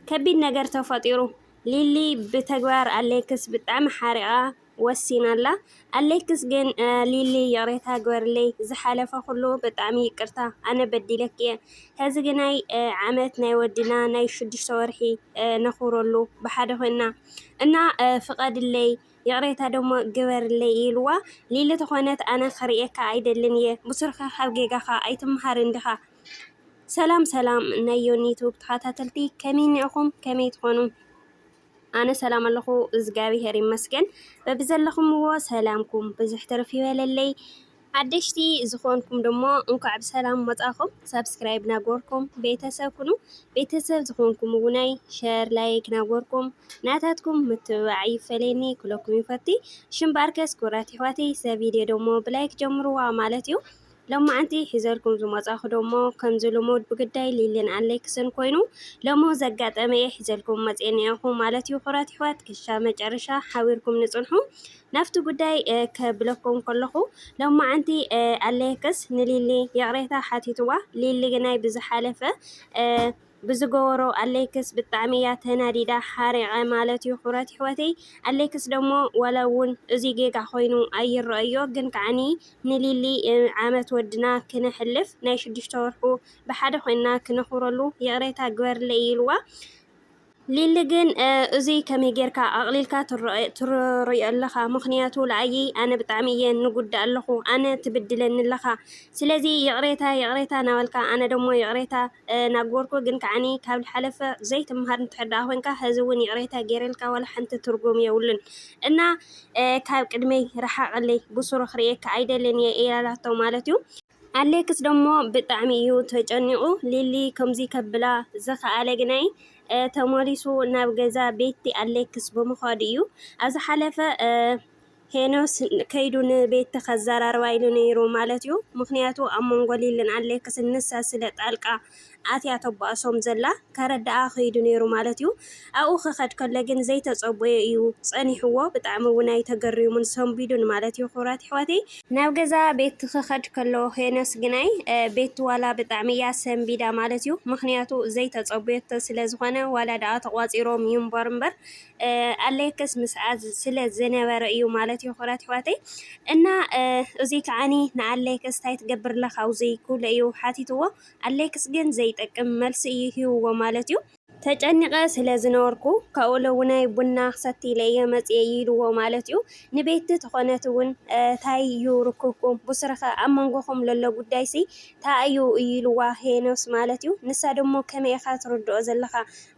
ከቢድ ነገር ተፈጢሩ ሊሊ ብተግባር ኣሌክስ ብጣዕሚ ሓሪቃ ወሲና ኣላ ኣሌክስ ግን ሊሊ ይቅሬታ ግበርለይ ዝሓለፈ ኩሉ ብጣዕሚ ይቅርታ ኣነ በዲለኪ እየ ሀዚ ግናይ ዓመት ናይ ወድና ናይ ሽዱሽተ ወርሒ ነክብረሉ ብሓደ ኮይና እና ፍቀድለይ ይቅሬታ ደሞ ግበርለይ ኢልዋ ሊሊ ተኾነት ኣነ ክርእየካ ኣይደልን እየ ብሱርካ ካብ ጌጋካ ኣይትምሃርን ዲካ ሰላም ሰላም ናይ ዮኒ ዩቱብ ተከታተልቲ ከመይ እኒኣኩም ከመይ ትኮኑ ኣነ ሰላም ኣለኩ እዝጋቢሄር ይመስገን በብዘለኩምዎ ሰላምኩም ብዝሕ ትርፍ ይበለለይ ሓደሽቲ ዝኮንኩም ደሞ እንኳዕ ብሰላም መፃኩም ሳብስክራይብ ናጎርኩም ቤተሰብ ኩኑ ቤተሰብ ዝኮንኩም እውናይ ሸር ላይክ ናጎርኩም ናታትኩም ምትብባዕ ይፈለኒ ኩለኩም ይፈቲ ሽምባርከስ ኩራት ይሕዋተይ ሰብ ቪድዮ ደሞ ብላይክ ጀምርዋ ማለት እዩ ሎማዕንቲ ሒዘልኩም ዝመፃኹ ደሞ ከምዚ ልሙድ ብግዳይ ሊሊን ኣሌክስን ኮይኑ ለሞ ዘጋጠመ እየ ሒዘልኩም መፅየ ኒኣኹ ማለት እዩ ኩራት ይሕዋት ክሻ መጨረሻ ሓቢርኩም ንፅንሑ ናፍቲ ጉዳይ ከብለኩም ከለኹ ሎማዕንቲ ኣሌክስ ንሊሊ ይቕሬታ ሓቲትዋ ሊሊ ግናይ ብዝሓለፈ ብዝገበሮ ኣሌክስ ብጣዕሚ እያ ተናዲዳ ሓሪቀ ማለት እዩ ክብረት ይሕወተይ ኣሌክስ ደሞ ዋላ እውን እዙይ ጌጋ ኮይኑ ኣይረኣዮ ግን ከዓኒ ንሊሊ ዓመት ወድና ክነሕልፍ ናይ ሽዱሽተ ወርሑ ብሓደ ኮይንና ክነክብረሉ ይቅሬታ ግበርለይ ኢልዋ ሊሊ ግን እዙይ ከመይ ጌርካ ኣቕሊልካ ትርእዮ ኣለኻ ምክንያቱ ለኣይ ኣነ ብጣዕሚ እየ ንጉዳእ ኣለኹ ኣነ ትብድለኒ ኣለኻ ስለዚ ይቕሬታ ይቕሬታ ናበልካ ኣነ ደሞ ይቕሬታ ናገርኩ ግን ከዓኒ ካብ ልሓለፈ ዘይትማሃር እንተሕር ደኣ ኮንካ ሀዚ እውን ይቅሬታ ገይረልካ ዋላ ሓንቲ ትርጉም የብሉን እና ካብ ቅድመይ ረሓቀለይ ብሱሩ ክርእየካ ኣይደልን እየ ኢላላቶ ማለት እዩ ኣሌክስ ደሞ ብጣዕሚ እዩ ተጨኒቁ ሊሊ ከምዚ ከብላ ዝኸኣለ ግናይ ተመሊሱ ናብ ገዛ ቤቲ ኣሌክስ ብምዃዱ እዩ ኣብ ዝሓለፈ ሄኖስ ከይዱ ንቤቲ ከዛራርባ ኢሉ ነይሩ ማለት እዩ ምክንያቱ ኣብ መንጎ ሊልን ኣሌክስን ንሳ ስለ ጣልቃ ኣትያ ተባእሶም ዘላ ከረድኣ ከይዱ ነይሩ ማለት እዩ ኣብኡ ክከድ ከሎ ግን ዘይተጸቦዮ እዩ ጸኒሕዎ ብጣዕሚ እውን ኣይተገሪሙን ሰንቢዱን ማለት እዩ ክብራት ይሕዋተይ ናብ ገዛ ቤቲ ክከድ ከሎ ሄኖስ ግናይ ቤቲ ዋላ ብጣዕሚ እያ ሰንቢዳ ማለት እዩ ምክንያቱ ዘይተጸቦዮቶ ስለ ዝኮነ ዋላ ድኣ ተቋጺሮም ይንበሩ እምበር ኣለክስ ምስኣ ስለ ዝነበረ እዩ ማለት እዩ ክብራት ኣሕዋተይ እና እዙይ ከዓኒ ንኣሌክስ እንታይ ትገብር ኣለካ ኣብዙይ ክብሎ እዩ ሓቲትዎ ኣሌክስ ግን ዘይጠቅም መልሲ እዩ ሂብዎ ማለት እዩ ተጨኒቐ ስለ ዝነበርኩ ካብኡ ለውናይ ቡና ክሰቲ ኢለ እየ መፅየ ኢልዎ ማለት እዩ ንቤቲ ተኾነት እውን እንታይ እዩ ርክብኩም ብስረኸ ኣብ መንጎኹም ለሎ ጉዳይ ሲ እንታይ እዩ ኢልዋ ሄኖስ ማለት እዩ ንሳ ደሞ ከመይ ኢኻ ትርድኦ ዘለኻ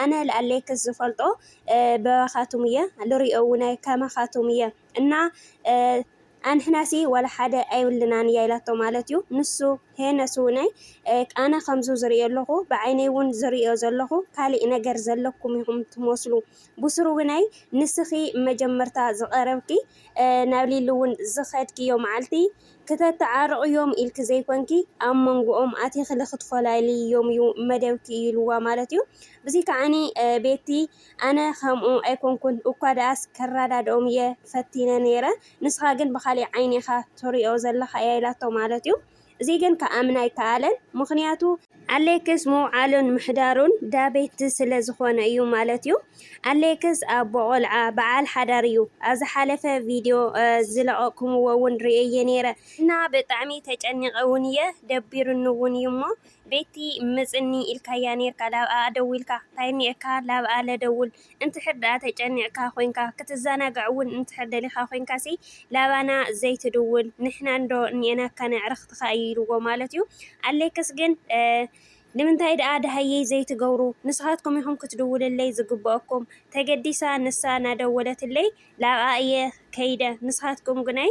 ኣነ ልኣለይክስ ዝፈልጦ በባካቱም እየ ልሪኦ ውናይ ከማካቱም እየ እና ኣንሕናሲ ዋላ ሓደ ኣይብልናን እያ ኢላቶ ማለት እዩ ንሱ ሄነስ ውናይ ኣነ ከምዙ ዝሪኦ ኣለኩ ብዓይነይ እውን ዝሪኦ ዘለኩ ካሊእ ነገር ዘለኩም ኢኩም ትመስሉ ብስሩ ውናይ ንስኪ መጀመርታ ዝቀረብኪ ናብ ሊሊ እውን ዝከድክዮ መዓልቲ ክተተዓርቕዮም ኢልኪ ዘይኮንኪ ኣብ መንጎኦም ኣቲኽሊ ክትፈላልይዮም እዩ መደብኪ ኢሉዋ ማለት እዩ። ብዙይ ከዓኒ ቤቲ ኣነ ከምኡ ኣይኮንኩን እኳ ደኣስ ከራዳድኦም እየ ፈቲነ ነይረ ንስኻ ግን ብኻሊእ ዓይኒ ኢኻ ትሪኦ ዘለኻ እያ ኢላቶ ማለት እዩ። እዙይ ግን ክኣምን ኣይከኣለን ምኽንያቱ ኣሌክስ ምውዓሉን ምሕዳሩን ዳቤት ስለ ዝኾነ እዩ ማለት እዩ። ኣሌክስ ኣቦ ቆልዓ በዓል ሓዳር እዩ። ኣብ ዝሓለፈ ቪድዮ ዝለቀቅኩምዎ እውን ርእየዬ ነይረ እና ብጣዕሚ ተጨኒቀ እውን እየ ደቢሩኒ እውን እዩ እሞ ቤቲ ምፅኒ ኢልካያ ነይርካ ላብኣ ደዊልካ ታይ እኒኤካ ላብኣ ለደውል እንድሕር ደኣ ተጨኒቕካ ኮይንካ ክትዘናጋዕ ውን እንድሕር ደሊኻ ኮይንካሲ ላባና ዘይትድውል ንሕናንዶ እኒኤናካ ነዕርኽትኻ እዩ ኢልዎ ማለት እዩ ኣሌክስ ግን ንምንታይ ደኣ ደሃየይ ዘይትገብሩ ንስኻትኩም ኢኹም ክትድውልለይ ዝግበኣኩም ተገዲሳ ንሳ ናደወለትለይ ላብኣ እየ ከይደ ንስኻትኩም ግናይ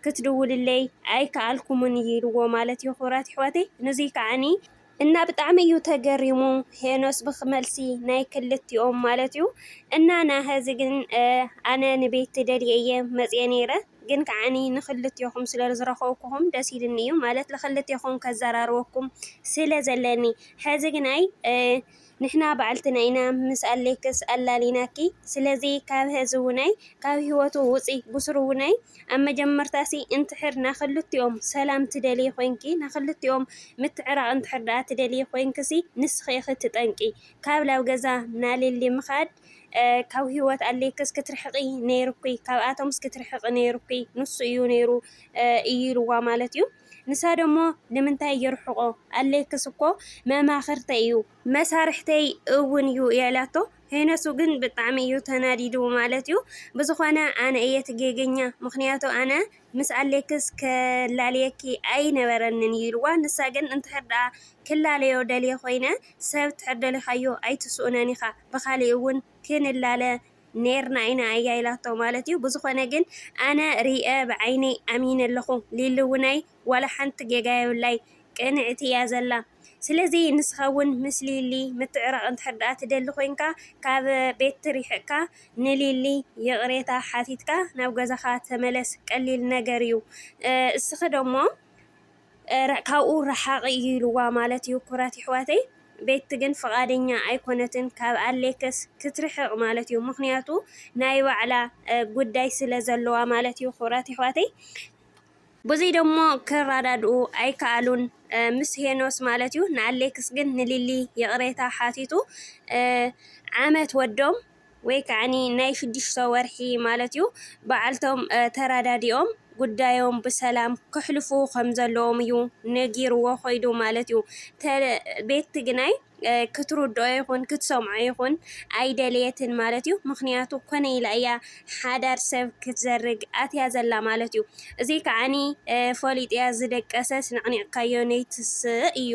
ክትድውልለይ ኣይከኣልኩምን እዩ ኢልዎ ማለት እዩ ክብራት ኣሕዋተይ ንዙይ ከዓኒ እና ብጣዕሚ እዩ ተገሪሙ ሄኖስ ብክመልሲ ናይ ክልቲኦም ማለት እዩ እና ናሀዚ ግን ኣነ ንቤት ትደልየ እየ መፅየ ነይረ ግን ከዓኒ ንክልቴኹም ስለ ዝረኸብኩኹም ደስ ኢልኒ እዩ ማለት ንክልቴኹም ከዘራርበኩም ስለ ዘለኒ ሐዚ ግን ኣይ ንሕና ባዕልትና ኢና ምስ ኣሌክስ ኣላሊናኪ ስለዚ ካብ ሀዚ ውነይ ካብ ሂወቱ ውጺ ብሱሩ ውነይ ኣብ መጀመርታሲ እንትሕር ናክልቲኦም ሰላም ትደልዪ ኮንኪ ናክልቲኦም ምትዕራቅ እንትሕር ዳኣ ትደልዪ ኮንክሲ ንስኪ ኢኪ እቲ ጠንቂ ካብ ላብ ገዛ ናሊሊ ምካድ ካብ ሂወት ኣሌክስ ክትርሕቂ ነይሩኪ ካብኣቶምስ ክትርሕቂ ነይሩኪ ንሱ እዩ ነይሩ እዩ ኢልዋ ማለት እዩ። ንሳ ደሞ ንምንታይ የርሕቆ ኣሌክስ እኮ መማክርተይ እዩ መሳርሕተይ እውን እዩ ያላቶ ሄኖሱ ግን ብጣዕሚ እዩ ተናዲዱ ማለት እዩ ብዝኮነ ኣነ እየ ትጌገኛ ምክንያቱ ኣነ ምስ ኣሌክስ ከላልየኪ ኣይነበረንን እዩ ኢልዋ ንሳ ግን እንድሕር ደኣ ክላለዮ ደልየ ኮይነ ሰብ ትሕር ደሊካዮ ኣይትስኡነን ኢካ ብካሊእ እውን ክንላለ ኔርና ኢና እያ ኢላቶ ማለት እዩ ብዝኮነ ግን ኣነ ሪኤ ብዓይነይ ኣሚነ ኣለኩ ሊሊውናይ ዋላ ሓንቲ ጌጋ የብላይ ቅንዕቲ እያ ዘላ ስለዚ ንስካ ውን ምስ ሊሊ ምትዕራቅ እንድሕር ደኣ ትደሊ ኮንካ ካብ ቤት ሪሕቅካ ንሊሊ ይቅሬታ ሓቲትካ ናብ ገዛካ ተመለስ ቀሊል ነገር እዩ እስኪ ደሞ ካብኡ ራሓቂ እዩ ኢልዋ ማለት እዩ ኩራት ይሕዋተይ ቤቲ ግን ፍቃደኛ ኣይኮነትን ካብ ኣሌክስ ክትርሕቅ ማለት እዩ ምክንያቱ ናይ ባዕላ ጉዳይ ስለ ዘለዋ ማለት እዩ ኩራት ይሕዋተይ ብዙይ ደሞ ክራዳድኡ ኣይካኣሉን ምስ ሄኖስ ማለት እዩ ንኣሌክስ ግን ንሊሊ ይቅሬታ ሓቲቱ ዓመት ወዶም ወይ ከዓ ናይ ሽዱሽተ ወርሒ ማለት እዩ በዓልቶም ተረዳዲኦም ጉዳዮም ብሰላም ከሕልፉ ከምዘለዎም እዩ ነጊርዎ ኮይዱ ማለት እዩ ቤቲ ግናይ ክትርድኦ ይኹን ክትሰምዖ ይኹን ኣይደለየትን ማለት እዩ ምክንያቱ ኮነ ኢላ እያ ሓዳር ሰብ ክትዘርግ ኣትያ ዘላ ማለት እዩ እዚ ከዓኒ ፈሊጥያ ዝደቀሰት ነዕኒዕካዮ ነይትስእ እዩ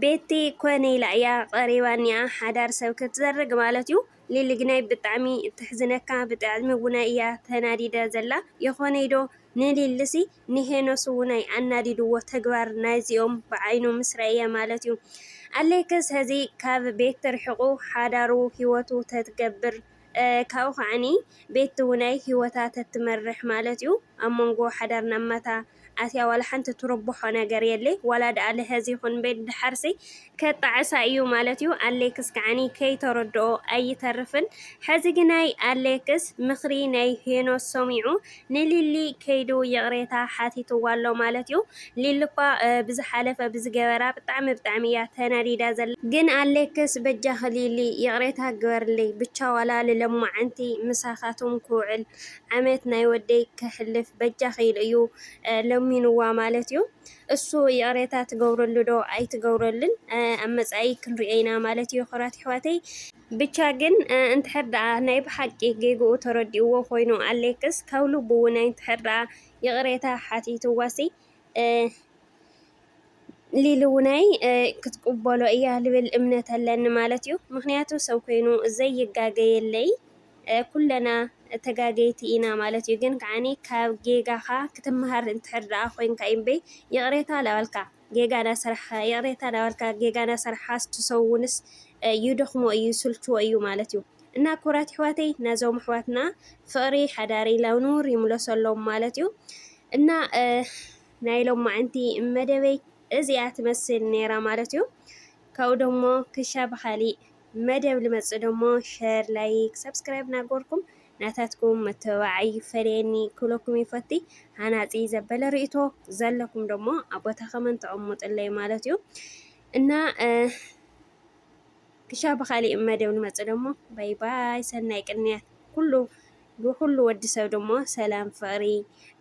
ቤቲ ኮነይ ኢላ እያ ቀሪባ እኒኣ ሓዳር ሰብ ክትዘርግ ማለት እዩ ሊሊ ግናይ ብጣዕሚ ተሕዝነካ ብጣዕሚ ውናይ እያ ተናዲዳ ዘላ የኾነይ ዶ ንሊሊሲ ንሄኖስ ውናይ ኣናዲድዎ ተግባር ናይዚኦም ብዓይኑ ምስ ረእየ ማለት እዩ ኣሌክስ ሀዚ ካብ ቤቲ ርሒቁ ሓዳሩ ሂወቱ ተትገብር ካብኡ ከዓኒ ቤት ትውናይ ሂወታ ተትመርሕ ማለት ዩ ኣብ መንጎ ሓዳር ናብ ማታ ኣትያ ዋላ ሓንቲ ትርብሖ ነገር የሌ ዋላ ደኣ ልሀዝ ይኹን ቤት ደሓርሲ ከጣዕሳ እዩ ማለት ዩ ኣሌክስ ከዓኒ ከይተረድኦ ኣይተርፍን ሐዚ ግናይ ኣሌክስ ምኽሪ ናይ ሄኖስ ሰሚዑ ንሊሊ ከይዱ ይቅሬታ ሓቲትዋ ኣሎ ማለት እዩ ሊሊ እኳ ብዝሓለፈ ብዝገበራ ብጣዕሚ ብጣዕሚ እያ ተናዲዳ ዘላ ግን ኣሌክስ በጃኺ ሊሊ ይቅሬታ ግበርልይ ብቻ ዋላ ልለማዓንቲ ምሳኻቱም ክውዕል ዓመት ናይ ወደይ ከሕልፍ በጃኺ ኢሉ እዩ ለሚንዋ ማለት እዩ እሱ ይቅሬታ ትገብረሉ ዶ ኣይትገብረሉን ኣብ መፃኢ ክንሪኦ ኢና ማለት እዩ ክብራት ይሕዋተይ ብቻ ግን እንድሕር ደኣ ናይ ብሓቂ ጌግኡ ተረዲእዎ ኮይኑ ኣሌክስ ካብ ልቡ እውን ኣይንድሕር ደኣ ይቅሬታ ሓቲትዋሲ ሊሊ እውናይ ክትቅበሎ እያ ልብል እምነት ኣለኒ ማለት እዩ ምክንያቱ ሰብ ኮይኑ ዘይጋገ የለይ ኩለና ተጋገይቲ ኢና ማለት እዩ ግን ከዓኒ ካብ ጌጋካ ክትመሃር እንድሕር ደኣ ኮይንካ እዩ እምበይ ይቅሬታ ለበልካ ጌጋ ናሰርሕካ ይቅሬታ ናበልካ ጌጋ ናሰርሕካስ ትሰውንስ ይደኽሞ እዩ ይስልችዎ እዩ ማለት እዩ እና ኩቡራት ይሕዋተይ ናዞም ኣሕዋትና ፍቅሪ ሓዳሪ ላብ ንቡር ይምለሰሎም ማለት እዩ እና ናይ ሎማዕንቲ መደበይ እዚኣ ትመስል ነይራ ማለት እዩ ካብኡ ደሞ ክሻ ብካሊእ መደብ ልመጽእ ደሞ ሸር ላይክ ሰብስክራይብ ናገርኩም ናታትኩም መተባብዓይ ይፈለየኒ ክብለኩም ይፈቲ። ሃናጺ ዘበለ ርእይቶ ዘለኩም ደሞ ኣብ ቦታኸመን ተቐሙጥለይ ማለት እዩ እና ክሻ ብኻሊእ መደብ ንመጽእ ደሞ ባይ ባይ ሰናይ ቅንያት ኩሉ ንኹሉ ወዲ ሰብ ደሞ ሰላም ፍቕሪ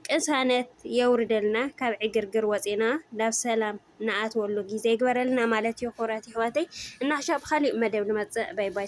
ቅሳነት የውርደልና ካብ ዕግርግር ወፂና ናብ ሰላም ንኣትወሉ ግዜ ይግበረልና ማለት እዩ። ኩብራት ይሕዋተይ እና ክሻ ብካሊእ መደብ ንመፅእ ባይ ባይ።